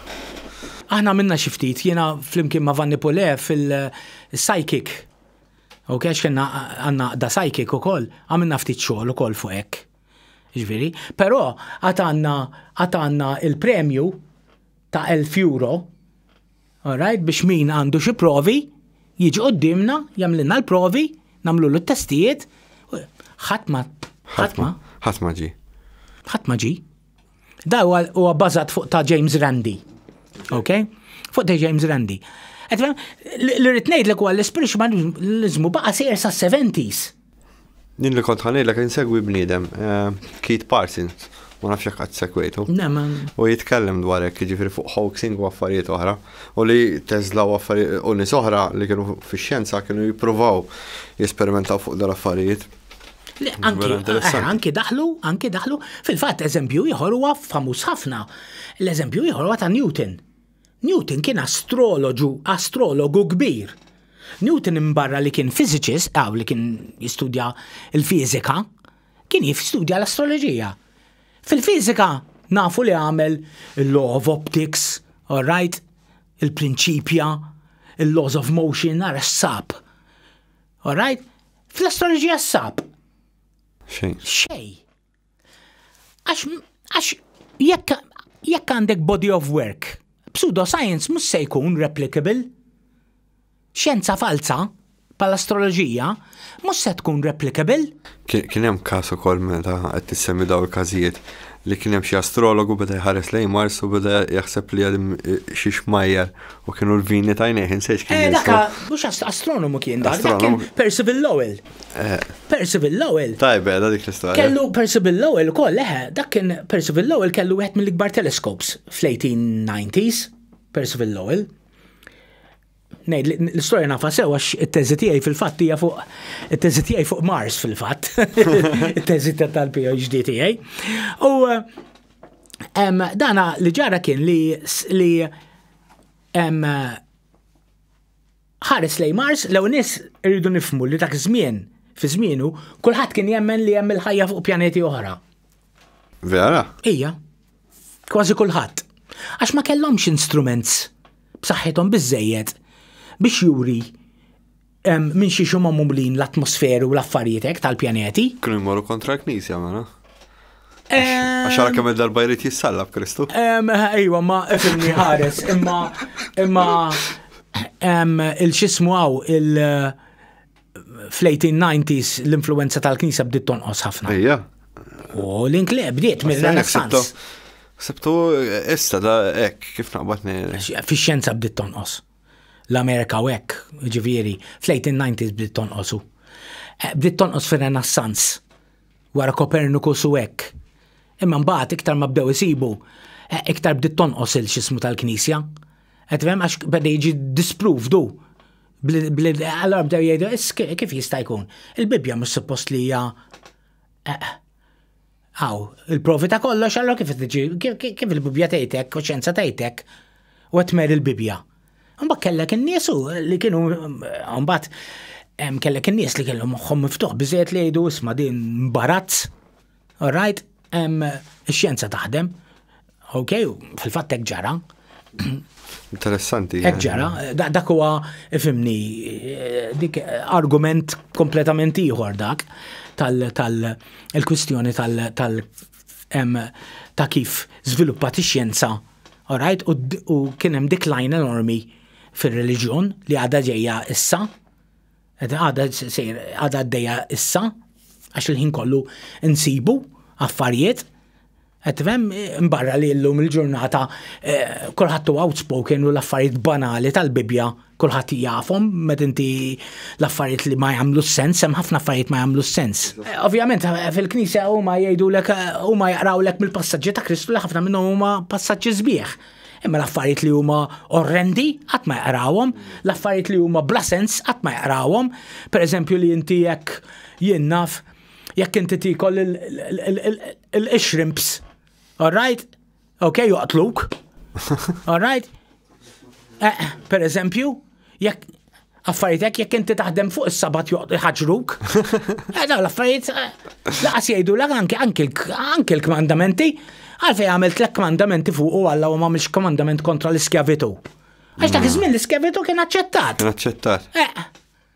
Aħna minna xi ftit jiena flimkien ma' Vanni Pule fil-psychic. U kex kena għanna da psychic u koll, għamilna ftit xogħol u koll fuq hekk. Ġviri, però għatanna għatanna il-premju ta' 1000 euro All right, biex min għandu xi provi jiġi quddiemna, jagħmlilna l-provi, nagħmlulu t-testijiet, ħadd ma ħadd ma ħadd ma ġi. Ħadd ma ġi. Da huwa bażat fuq ta' James Randi. Ok? Fuq ta' James Randi. Li rrid ngħidlek huwa l-ispiritualizmu baqa' sejjer sa' 70s. Din li kont ħanejlek insegwi bniedem, eh, Keith Parsons, ma nafx jekk qatt segwejtu. U jitkellem dwar hekk, jiġifieri fuq hoaxing u affarijiet oħra, u li Tesla u affarijiet u nies oħra li kienu fix-xjenza kienu jippruvaw jesperimentaw fuq dal-affarijiet. Eh, anki daħlu, anki daħlu, fil-fatt eżempju ieħor huwa famuż ħafna. L-eżempju ieħor huwa ta' Newton. Newton kien astroloġu, astrologu kbir. Newton imbarra li kien fiżiċist, aw li kien jistudja l-fiżika, kien jistudja l-astroloġija. Fil-fiżika nafu li għamel il-law of optics, all right, il-prinċipja, il-laws of motion, ara x'sab. All right? Fl-astroloġija x'sab? Xejn. Xejn. Għax jekk għandek body of work, pseudoscience mhux se jkun replicable. Xjenza falza, pal-astroloġija, mhux se tkun replicable. Kien hemm każ ukoll meta qed tissemmi daw il-każijiet li kien hemm xi astrologu beda jħares lejn Mars u beda jaħseb li għadim xi xmajjar u kienu l-vini tajnejh insejx kien. Eh, daka, mhux astronomu kien dak, kien Percival Lowell. Percival Lowell. Tajbe, da dik l-istorja. Kellu Percival Lowell ukoll, eħe, dak kien Percival Lowell kellu wieħed mill-ikbar telescopes fl-1890s, Percival Lowell. Nej, l-istorja nafa sewa it-teżi tiegħi fil-fatt hija fuq it-teżi tiegħi fuq Mars fil-fatt. It-teżi tal-PhD tiegħi. U dana li ġara kien li li Ħares lejn Mars, l-ewwel nies irridu nifhmu li dak iż-żmien, fi żmienu, kulħadd kien jemmen li hemm il-ħajja fuq pjaneti oħra. Vera? Ija. Kważi kulħadd. Għax ma kellhomx instruments b'saħħithom biżejjed biex juri minn xi xumma mumlin l-atmosferu u l-affarijietek tal-pjaneti. Kienu jmorru kontra l-knisja, mela? Għax għara kemm darba jrid jissalla b'Kristu. Ejwa, ma fimni ħares, imma imma il-xismu għaw il- fl-1890s l-influenza tal-Knisa bdiet tonqos ħafna. Ejja. U l-inkle bdiet mill-Renaissance. Sebtu issa da ek, kif naqbatni. Fi xjenza bdiet tonqos. L-Amerika u ek, ġifieri, fl-1890s bdiet tonqosu. Eh, bdiet tonqos fir-Renaissance. wara Copernicus u hekk. Imma mbagħad iktar ma bdew isibu, eh, iktar bdiet tonqos il-xismu tal-Knisja. Qed tifhem għax beda jiġi disprovdu. Allora bdew jgħidu, kif jista' jkun? Il-Bibbja mhux suppost li hija eh, Aw, il-provi ta' kollox, allora kif tiġi, kif il-Bibbja tgħidek, u xjenza tgħidek, u qed tmer il-Bibbja. Mbagħad kellek in-nies li kienu mbagħad kellek in-nies li kellhom moħħhom miftuħ biżejjed li jgħidu isma' din mbarazz. All right, ix-xjenza taħdem. Ok, fil-fatt hekk ġara. Interessanti. Hekk eh. ġara, dak huwa ifimni eh, dik eh, argument kompletament ieħor dak tal-kwistjoni tal- ta' kif żviluppat ix-xjenza All right, u, u kien hemm decline enormi fir-reliġjon li għadha ġejja issa, għadha sejr għadha għaddejja issa, għax il-ħin kollu nsibu affarijiet Għetvem, mbarra li l-lum il-ġurnata eh, kolħattu outspoken u l-affarijiet banali tal-Bibja kulħadd jafhom meta inti l-affarijiet li ma jagħmlu sens, hemm ħafna affarijiet ma jagħmlu sens. Eh, ovvjament eh, fil-Knisja huma jgħidulek eh, huma jaqrawlek mill-passaġġi ta' Kristu li ħafna minnhom huma passaġġi sbieħ. Imma l-affarijiet li huma orrendi qatt ma jaqrawhom, l-affarijiet li huma bla sens qatt ma jaqrawhom. Pereżempju li inti jekk jien naf jekk inti tikol il-shrimps. All right? Ok, joqtluk. All right? Eh, per eżempju, jekk affaritek jekk inti taħdem fuq is-sabat ħaġruk. Eh, dawn l-affarijiet eh, laqas jgħidu l anke l-kmandamenti għalfej għamil tlek kmandamenti fuq u għalla u ma mhix kmandament kontra l-iskjavitu. Għax dak iż-żmien l-iskjavitu kien aċċettat. Kien aċċettat. Eh,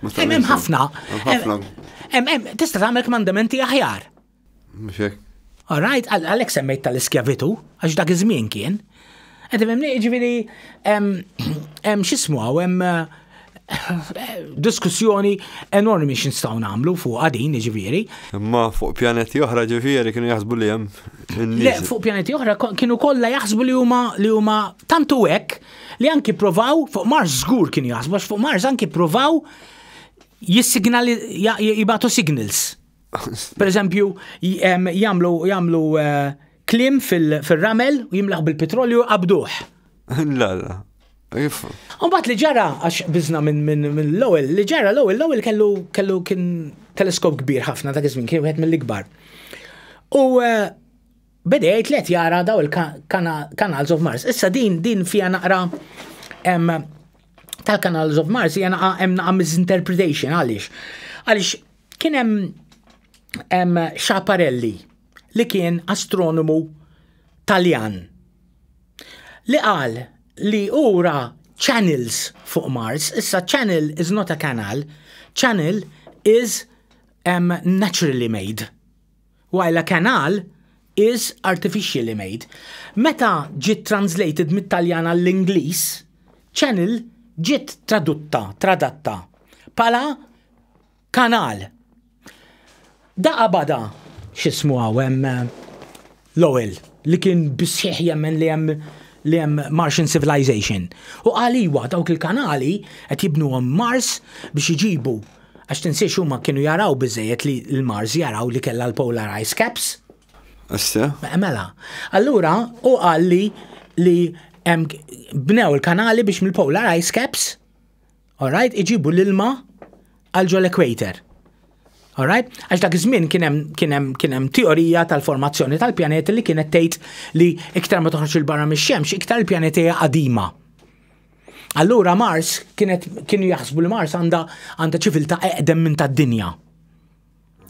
Hemm ħafna. Tista' tagħmel kmandamenti aħjar. All right, għalhekk semmejt tal-iskjavitu, għax dak iż-żmien kien. Qed imemni ġifieri hemm x'ismu hawn hemm eh, diskussjoni enormi x'instgħu nagħmlu fuq għadin ġifieri. Imma fuq pjaneti oħra ġifieri kienu jaħsbu li hemm. Le, fuq pjaneti oħra kienu kollha jaħsbu li huma li huma tantu hekk li anki provaw fuq Mars żgur kien jaħsbu għax fuq Mars anki provaw jissignali jibatu signals. Per eżempju, jamlu jamlu eh, klim fil-ramel u jimlaħ bil-petrolju qabduħ. La, la. Umbat li ġara, għax bizna minn l-ewel, li ġara l-ewel, l-ewel kellu kellu kien teleskop kbir ħafna dak iż-żmien kien wieħed mill-ikbar. U eh, Beda jgħid li qed jara daw il-Canals of Mars. Issa din din fija naqra tal-Canals of Mars hija naqa' hemm naqa' misinterpretation għaliex. Għaliex kien hemm Xaparelli li kien astronomu Taljan li qal li ura channels fuq Mars, issa channel is not a canal, channel is um, naturally made. Wailla Canal is artificially made. Meta ġiet translated mit-Taljan għall-Ingliż, channel ġiet tradutta, tradatta, bħala kanal. Daqa bada, x'ismu hawn hemm Lowell, li kien bis-sħiħ jemmen li hemm li hemm Martian civilization. U qal iwa, dawk il-kanali qed jibnuhom Mars biex iġibu Għax tinsiex huma kienu jaraw biżejjed li l-Mars jaraw li kellha l-polar ice caps. Issa? Mela. Allura u qal li li bnew il-kanali biex mill-polar ice caps, alright, iġibu l-ilma għal ġol equator. Alright? Għax dak iż-żmien kien hemm kien hemm kien hemm teorija tal-formazzjoni tal-pjaneti li kienet tgħid li iktar ma toħroġ il-barra mix-xemx, iktar il-pjaneti hija qadima. Allura Mars kienet kienu jaħsbu li Mars għandha għandha ċiviltà eqdem minn tad-dinja.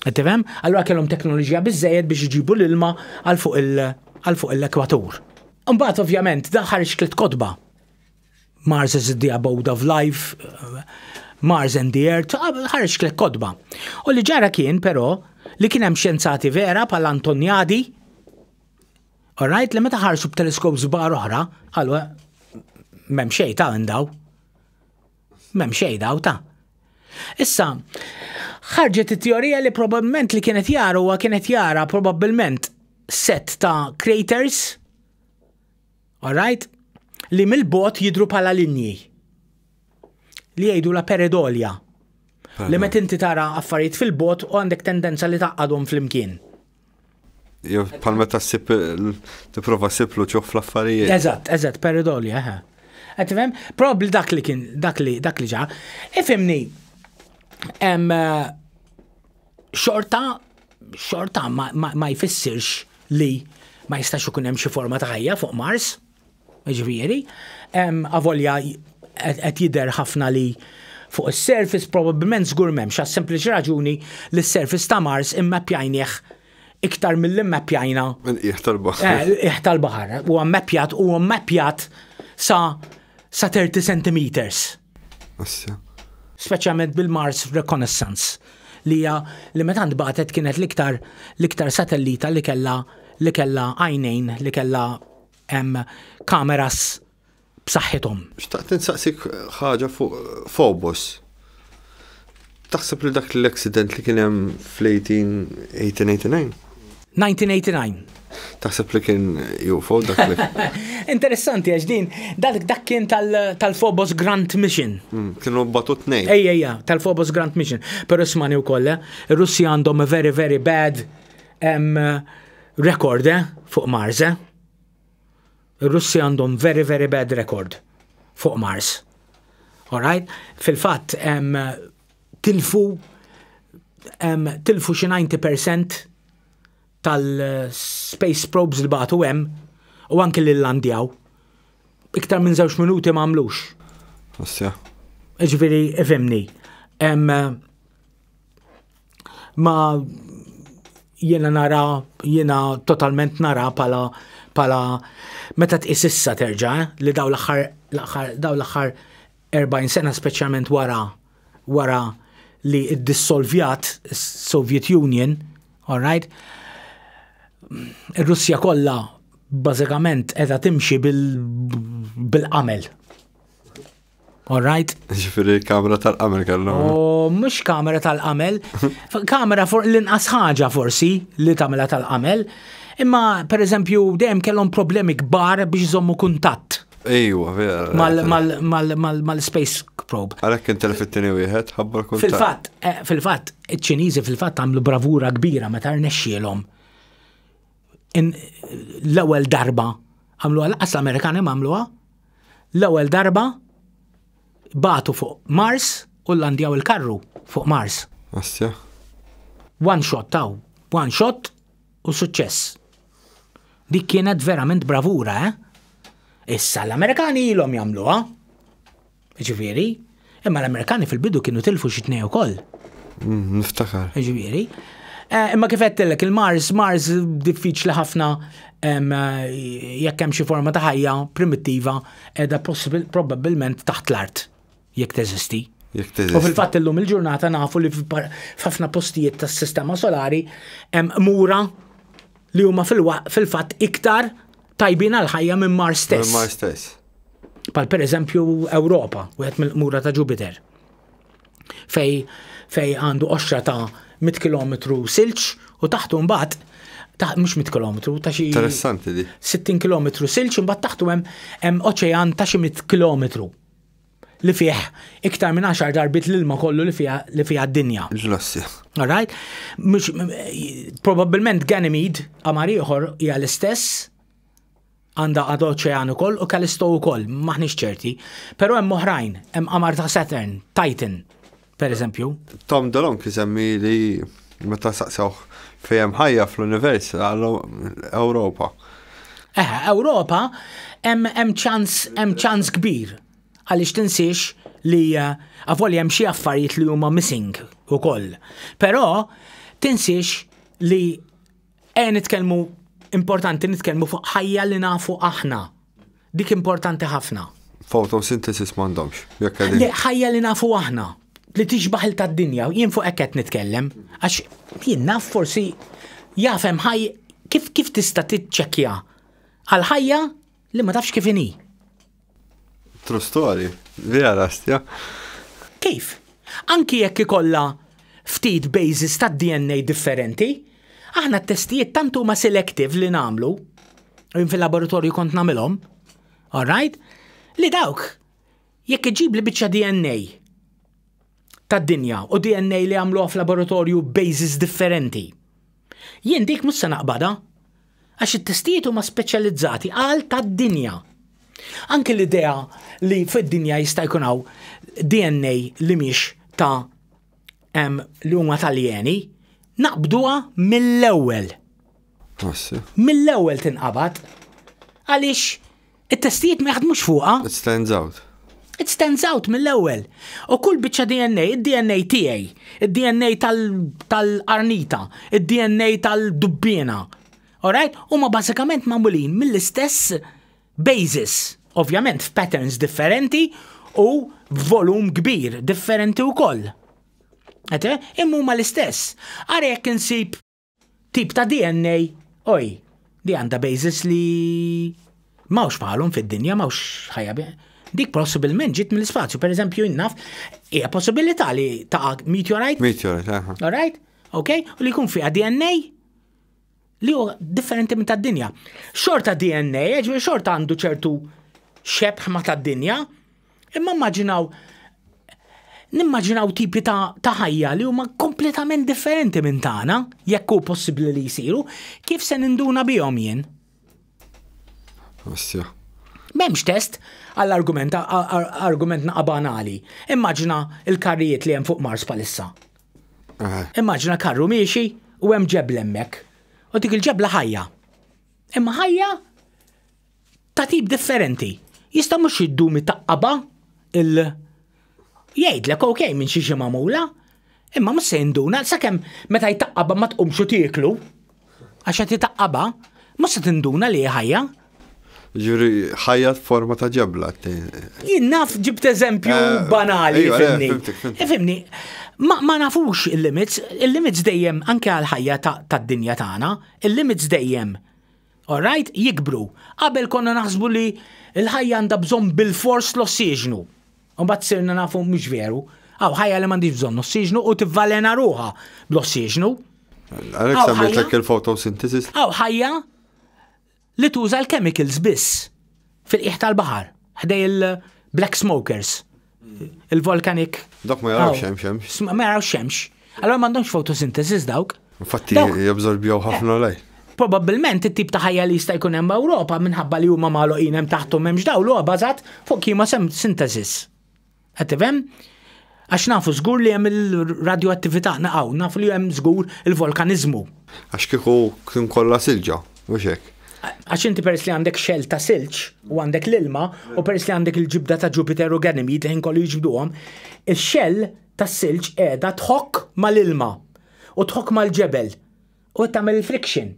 Qed tifhem? Allura kellhom teknoloġija biżejjed biex iġibu l-ilma għal fuq il għal fuq l-ekwatur. Imbagħad ovvjament da ħareġ tliet kotba. Mars is the abode of life, Mars and the Earth, ħareġ tliet kotba. U li ġara kien però li kien hemm xjenzati vera bħal Antoniadi, U rajt li meta ħarsu b'teleskop żbar oħra, qalu eh, m'hemm xejn ta' daw. M'hemm xejn daw ta'. Issa, ħarġet it-teorija li probabbilment li kienet jara huwa kienet jara probabbilment set ta' craters, alright, li mill-bot jidru pala linji. Li jgħidu la peredolja. Li met inti tara affarijiet fil-bot u għandek tendenza li taqqadhom fl-imkien. Jew bħal meta ssib tipprova ssib luċuħ fl-affarijiet. Eżatt, eżatt, peridoli, eħe. Qed tifhem? Probabbli dak li kien dak li dak li ġa. Ifhimni hemm eh, xorta xorta ma jfissirx li ma jistax ikun hemm xi forma ta' ħajja fuq Mars, Ġifieri, avolja qed jidher ħafna li fuq is-surface probabbilment żgur m'hemmx għas sempliċi raġuni li s-surface ta' Mars immappjajnieh iktar milli mmappjajna. Minn qiegħ tal-baħar. Eh, qiegħ tal-baħar. Huwa mmappjat huwa mmappjat sa sa 30 centimeters. Assja. Speċjalment bil-Mars Reconnaissance li hija li meta ntbagħtet kienet l-iktar l-iktar satellita li kellha li kellha għajnejn li kellha hemm kameras b'saħħithom. Xtaqt insaqsik ħaġa fuq Phobos. Taħseb li dak l-accident li kien hemm fl-1889? 1989. Taħseb li kien UFO dak li. Interessanti għax din, dak kien tal-Phobos Grant Mission. Hmm, kienu batu tnejn. Ejja, ejja, tal-Phobos Grant Mission. Pero ismani u kolle, eh? Russi għandhom a very, very bad Hemm rekord eh, fuq Mars eh? Ir-Russi għandhom very very bad record fuq Mars. Alright? Fil-fatt hemm tilfu hemm tilfu xi 90% tal-space probes li bagħtu hemm u anke li landjaw. Iktar minn żewġ minuti ma għamlux. Ġifieri, ifimni. Hemm ma jiena nara, jiena totalment nara pala pala meta tqis issa terġa' eh, li daw l-aħħar daw l-aħħar 40 sena speċjalment wara wara li ddissolvjat Soviet Union, all right? Ir-Russja kollha bażikament qiegħda timxi bil-qamel. All right. Ġifiri kamera tal-qamel kellhom. U oh, mhux kamera tal-qamel, kamera for l-inqas ħaġa forsi li tagħmilha tal-qamel. Imma per eżempju dejjem kellhom problemi kbar biex iżommu kuntatt. Ejwa, vera. Mal-space probe. Għalek kien telfittini wieħed, ħabbar kuntatt. Fil-fatt, eh, fil-fatt, iċ-Ċiniżi fil-fatt għamlu bravura kbira meta rnexxielhom. L-ewwel darba għamlu għal-qas l-Amerikani għamluha L-ewwel darba bagħtu fuq Mars u llandjaw il-karru fuq Mars. Assja. One shot taw, one shot u suċċess. Dik kienet verament bravura, eh? Issa l-Amerikani ilhom jagħmluha. Ġifieri, Imma l-Amerikani fil-bidu kienu tilfu xi tnej ukoll. Mm, niftakar. Ġifieri. Eh, imma kif għedtillek il-Mars, Mars diffiċli ħafna jekk hemm xi forma ta' ħajja primittiva edha probabbilment taħt l-art jekk teżisti. U fil-fatt illum il-ġurnata nafu li f'ħafna postijiet tas-sistema solari hemm mura li huma fil-fatt iktar tajbin għal ħajja minn Mars stess. Mars stess. Pal per eżempju Ewropa, wieħed mill-qmura ta' Jupiter. Fej fej għandu qoxra ta' 100 km silġ u taħtu mbagħad ta' mhux 100 km ta' xi Interessanti di. 60 km silġ imbagħad taħtu hemm hemm oċean ta' xi 100 km li fih iktar minn 10 darbit l-ilma kollu li fiha li fiha d-dinja. Ġlassi. Alright? Mhux probabbilment Ganymede qamar ieħor hija l-istess għandha għadu oċean ukoll u Callisto ukoll, maħniex ċerti. Però hemm oħrajn, hemm qamar ta' Saturn, Titan, per eżempju. Tom Delong jisemmi li meta saqsewh fejem ħajja fl-univers għallu Ewropa. Eh, Ewropa hemm ċans hemm ċans kbir għaliex tinsiex li eh, għavoli hemm xi affarijiet li huma missing ukoll. Però tinsiex li Ejja nitkellmu importanti nitkellmu fuq ħajja li nafu aħna. Dik importanti ħafna. Photosynthesis m'għandhomx. Ħajja li nafu aħna li tixbaħ il tad-dinja, jien fuq hekk qed nitkellem, għax jien naf forsi jafem ħaj kif kif tista' tiċċekkja għal ħajja Li ma tafx kif inhi. True story, vera rastja. Kif? Anki jekk ikollha ftit bases tad-DNA differenti, aħna t-testijiet tant huma selective li nagħmlu, jien fil-laboratorju kont nagħmilhom, all right, li dawk jekk iġib li biċċa DNA tad-dinja u DNA li għamluha f'laboratorju bases differenti. Jien dik mhux se naqbada. Għax it-testijiet huma speċjalizzati għal tad-dinja. Anke l-idea li fid-dinja jista' jkun hawn DNA li mhix ta' li huma taljeni, naqbduha mill-ewwel. Mill-ewwel tinqabad għaliex It-testijiet ma jaħdmux fuqha. It stands out. It stands out mill-ewwel. U kull biċċa DNA, id-DNA tiegħi, id-DNA tal-arnita, id-DNA tal-dubbiena. Alright? Huma bażikament magħmulin mill-istess basis, ovvjament f'patterns differenti u volum kbir differenti wkoll. Ete, imma huma l-istess. Ara jekk insib Tip ta' DNA, oj, li għandha basis li mawx bħalhom fid-dinja, mawx ħajja dik possibilment ġiet mill-ispazju. Per eżempju, jinnaf, hija possibilità li ta' meteorite. Meteorite, aha. All right? ok? U li jkun fiha DNA li hu differenti minn tad-dinja. Xorta DNA, ġifieri xorta għandu ċertu xebħ ma tad-dinja, Imma immaġinaw nimmaġinaw tipi ta', ta ħajja li huma kompletament differenti minn tagħna, jekk hu possibbli li jsiru, kif se ninduna bihom jien? Assja. M'hemmx test għall-argument argument naqa' banali. Immaġina l-karrijiet li hemm fuq Mars palissa. Eh. Immaġina karru miexi u hemm ġebla hemmhekk. U dik il-ġebla ħajja. Imma ħajja ta' tip differenti. Jista' mhux jiddumi taqqaba il jgħidlek ok minn xi xi magħmula, imma mhux se jinduna sakemm meta jtaqqaba ma tqumx u tieklu għax qed jtaqqaba, mhux se tinduna li hi ħajja. Ġuri, ħajja forma ta' ġebla. Jien naf ġibt eżempju eh, banali. Ifimni, ma nafux il-limits, il-limits dejjem anke għal ħajja tad-dinja tagħna, il-limits dejjem Orajt, jikbru. Qabel konna naħsbu li l-ħajja għandha bżonn bilfors l-ossiġnu. Imbagħad sirna nafu mhux veru. Hawn ħajja li m'għandhiex bżonn ossiġnu u tivvalena ruha bl-ossiġnu. Għalhekk semmejtlek il-photosynthesis. Hawn ħajja li tuża l-chemicals biss fil-qiegħ tal-baħar ħdej il-black smokers. Il-volcanic. Dok ma jarawx xemx, xemx. Ma jarawx xemx. Allora m'għandhomx photosynthesis dawk. Infatti jabżorbjow ħafna lej. Probabilment it-tip ta' ħajja li jista' jkun hemm Ewropa minħabba li huma magħluqin hemm taħthom hemmx dawl huwa bażat fuq kima synthesis. Qed tifhem? Għax nafu żgur li hemm il-radioattività naqgħu, nafu li hemm żgur il-volkaniżmu. Għax kieku kien kollha silġa, Mhux hekk. Għax inti peress li għandek xell ta' silġ u għandek l-ilma u peress li għandek il-ġibda ta' Jupiter u Ganymede li ħin kollu jiġbduhom, ix-xell ta' silġ qiegħda tħokk mal-ilma u tħokk mal-ġebel u qed tagħmel il-friction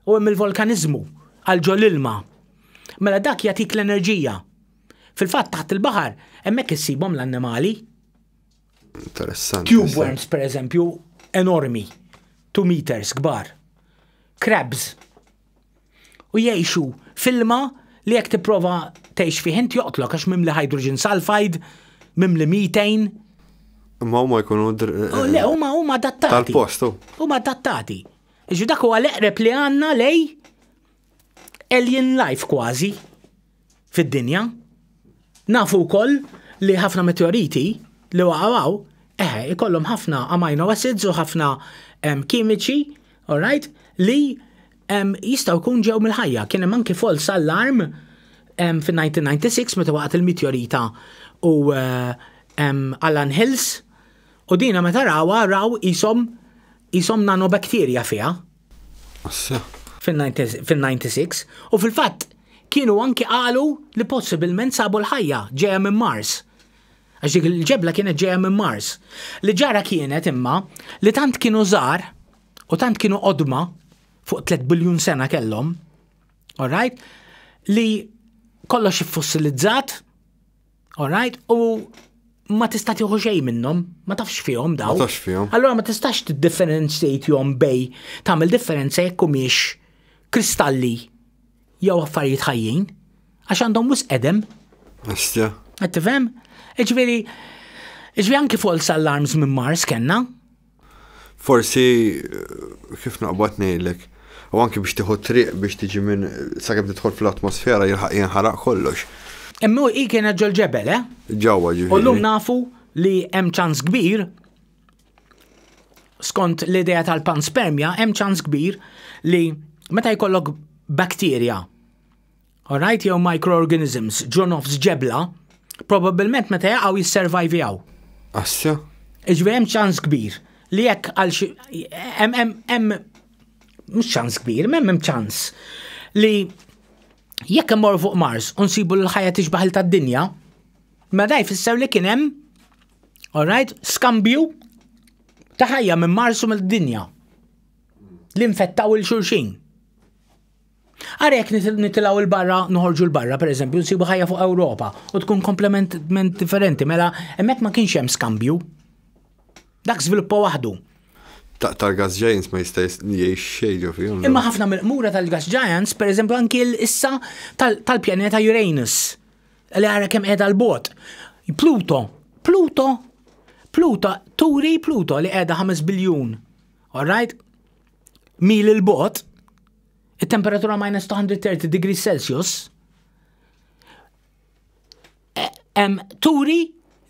u hemm il-volkaniżmu għal ġol ilma. Mela dak jagħtik l-enerġija. Fil-fatt taħt il-baħar hemmhekk issibhom l-annimali. Interessanti. Tube worms, per eżempju, enormi, 2 meters kbar. Crabs. U jgħixu filma li jekk tipprova tgħix fih int joqtlok għax mimli hydrogen sulfide, mimli methane. Ma huma jkunu oh, Le, huma huma adattati. Tal-postu. Oh. Huma adattati. Iġu dak huwa l-eqreb li għandna lej alien life kważi. fid-dinja. Nafu wkoll li ħafna meteoriti li waqgħu hawn eħe ikollhom ħafna amino acids u ħafna kimiċi, alright, li jistgħu jkun ġew mill-ħajja. Kien hemm anki false alarm fin-1996 meta waqgħet il-meteorita u Allan Hills u dina meta rawha raw qishom nanobakterja fiha. fin-96 u fil-fatt kienu anki qalu li possibilment sabu l-ħajja ġejja minn Mars. Għax dik il-ġebla kienet ġejja minn Mars. Li ġara kienet imma li tant kienu żgħar u tant kienu qodma fuq 3 biljun sena kellhom, alright, li kollox iffosilizzat, Alright, u ma tista' tieħu xejn minnhom, ma tafx fihom daw. Ma tafx fihom. Allora ma tistax tiddifferenzjatjhom bej tagħmel differenza jekk humiex kristalli jew affarijiet ħajjin għax għandhom wis qedem. Astja. Qed tifhem? Iġveri, iġveri anki false alarms minn Mars kenna. Forsi kif naqbad ngħidlek, u anki biex tieħu triq biex tiġi minn sakemm tidħol fl-atmosfera jilħaq jinħaraq kollox. Imma hi kienet ġol-ġebel, eh? Ġewwa ġifieri. U llum nafu li hemm ċans kbir skont l-idea tal-panspermja hemm ċans kbir li meta jkollok bakterja Alright, jew microorganisms ġo nofs ġebla, probabbilment meta jaqgħu jisservajvjaw. Assja? Iġvi hemm ċans kbir li jekk għal xi hemm mhux ċans kbir, hemm hemm ċans li jekk immorru fuq Mars u nsibu l-ħajja tixbaħ il tad-dinja, ma daj fisser li kien hemm alright, skambju ta' ħajja minn Mars u mill-dinja. Li infettaw il-xulxin. Ara jekk nitilgħu il barra noħorġu l-barra pereżempju nsibu ħajja fuq Ewropa u tkun komplementment differenti mela hemmhekk ma kienx hemm skambju. Dak żviluppa waħdu. Tal gas giants ma jista' jgħix xejn ġo fihom. Imma ħafna mill-qmura tal-gas giants pereżempju anki issa tal-pjaneta Uranus li ara kemm qiegħda l-bot. Pluto, Pluto, Pluto, turi Pluto li qiegħda 5 biljun. All right? mil il-bot, it-temperatura minus 230 degrees Celsius, hemm turi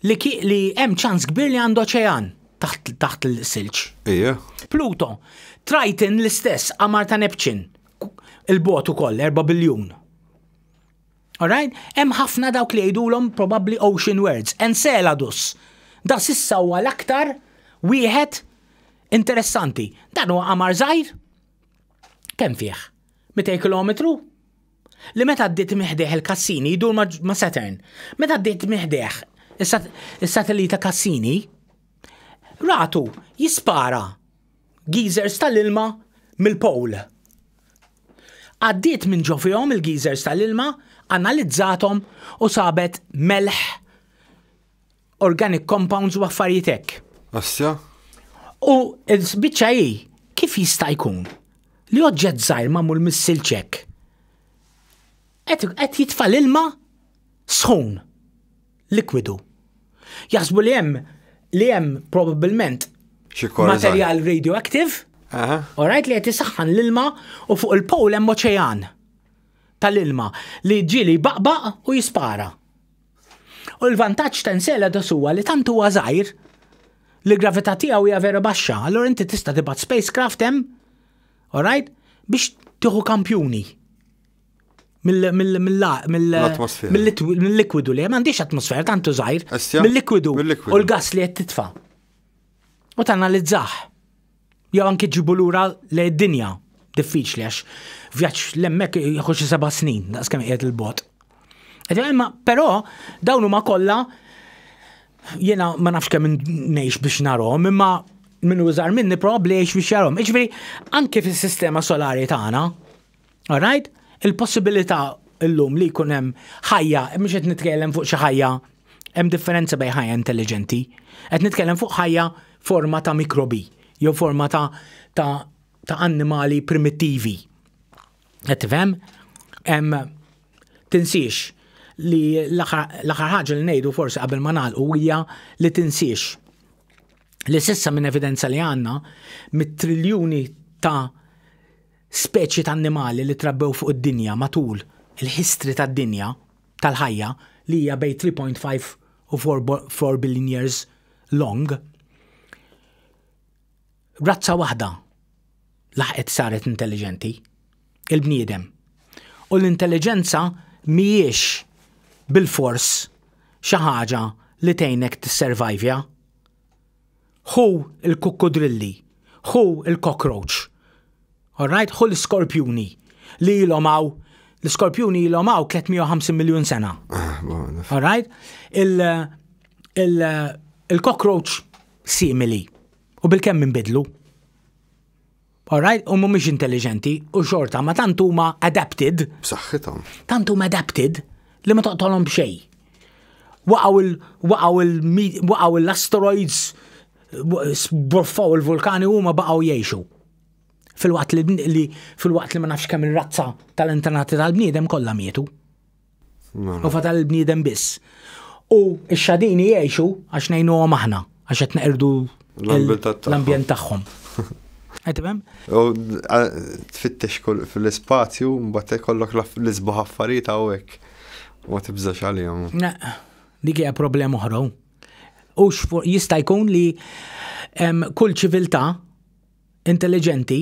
li li hemm ċans kbir li għandu oċean taħt taħt l-silġ. Ija. Pluto, Triton l-istess qamar ta' Neptune, il-bot ukoll 4 biljun. Alright? Hemm ħafna dawk li jgħidulhom probabbli ocean words. Enceladus, da sissa huwa l-aktar wieħed Interessanti, dan huwa qamar żgħir? Kemm fih? 200 kilometru? Li meta għaddit miħdeħ il-Kassini jdur ma' Saturn. Meta għaddit miħdeħ is-satellita Kassini, ratu jispara geezers tal-ilma mill-pol. Għaddit minn ġofihom il-geezers tal-ilma, analizzatom u sabet melħ organic compounds u affarijiet hekk. Assja? U l-biċċa hi kif jista' jkun li oġġett żgħir magħmul mis-silċek qed jitfa' l-ilma sħun likwidu. Jaħsbu li hemm li hemm probabbilment materjal radioactive, orajt li qed isaħħan l-ilma u fuq il-powl hemm oċean tal-ilma li ġieli baqbaq u jispara. U l-vantaġġ ta' Enceladus huwa li tant huwa żgħir li l-gravità tiegħu hija vera baxxa, allura inti tista' tibgħat spacecraft hemm, alright, biex tieħu kampjuni mill-likwidu li m'għandix atmosfera tantu żgħir, mill-likwidu u l-gas li qed titfa' u tanalizzah. Jew anki ġibu lura lejn id-dinja diffiċli għax vjaġġ l-emmek jieħu xi seba' snin, daqs kemm qiegħed il-bot. Imma però dawn huma kollha jiena ma nafx kemm ngħix biex narhom, imma minn użar minni probabbli jgħix biex jarhom. Iġifieri anke fis-sistema solari tagħna, Alright? Il-possibilità illum li jkun hemm ħajja, mhux qed nitkellem fuq xi ħajja, hemm differenza bejn ħajja intelligenti. Qed nitkellem fuq ħajja forma ta' mikrobi, jew forma ta' ta' ta' annimali primittivi. Qed tifhem? Hemm tinsiex li l-aħħar ħaġa li ngħidu forsi qabel ma nagħlqu hija li tinsiex li sissa minn evidenza li għandna mit-triljuni ta' Speċi ta' annimali li trabbew fuq id-dinja matul il-history tad-dinja, tal-ħajja, li hija bejn 3.5 u 4 billion years long, razza waħda laħqet saret intelliġenti, il-bniedem. U l-intelliġenza mhijiex bilfors xi ħaġa li tgħinek tisservajvja. Ħu l-kukkudrilli, ħu l-cockroach. All right, ħu l-iskorpjuni li ilhom hawn l-iskorpjuni ilhom hawn 350 miljun sena. Ah, All right? Il-cockroach simili u bil-kemm minbidlu. Alright, u mhumiex intelligenti u xorta ma tant huma adapted. B'saħħithom. Tant huma adapted li ma toqtolhom b'xej. Waqgħu l-asteroids, borfaw il-vulkani huma baqgħu jgħixu. Fil-waqt li fil-waqt li ma nafx kemm ir-razza tal-antenati tal-bniedem kollha mietu. U fatal il-bniedem biss. U x-xadini jgħixu għax ngħinuhom aħna, għax qed neqirdu l-ambjent tagħhom. Għetimem? U tfittex fil-spazju, mbagħad ikollok l-isbaħ affarijiet hawnhekk. U tibżax għalihom. Dik hija problema oħra. U jista' jkun li kull ċiviltà intelligenti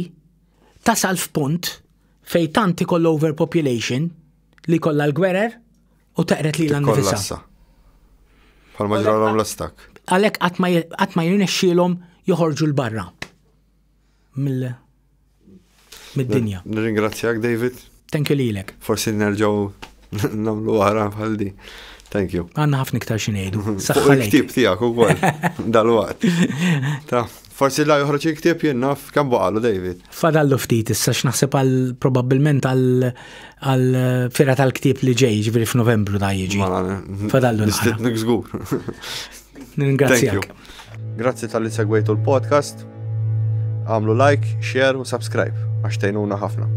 tasal f'punt fej tant ikoll overpopulation li kollha l-gwerer u taqret lilha nnifisha. Tikkollassa. Bħal ma ġralhom l-ostak. Għalhekk qatt ma je- qatt ma jirnexxielhom joħorġu l-barra mill mid-dinja. Nirringrazzjak, David. Thank you lilek. Forsi nerġgħu nagħmlu wara bħal di. Thank you. Għandna ħafna iktar xi ngħidu. Fuq Saħħa lejk. il-ktib tiegħek ukoll dal-waqt. Ta' Forsi la joħroġ il-ktieb jien naf kemm baqalu David. Fadallu ftit issa x'naħseb għal probabbilment għal fira tal-ktieb li ġej ġifieri f'Novembru da jiġi. Fadallu nistidnik żgur. Ningrazzjak. Grazzi tal-li segwejtu l-podcast. Għamlu like, share u subscribe għax tgħinuna ħafna.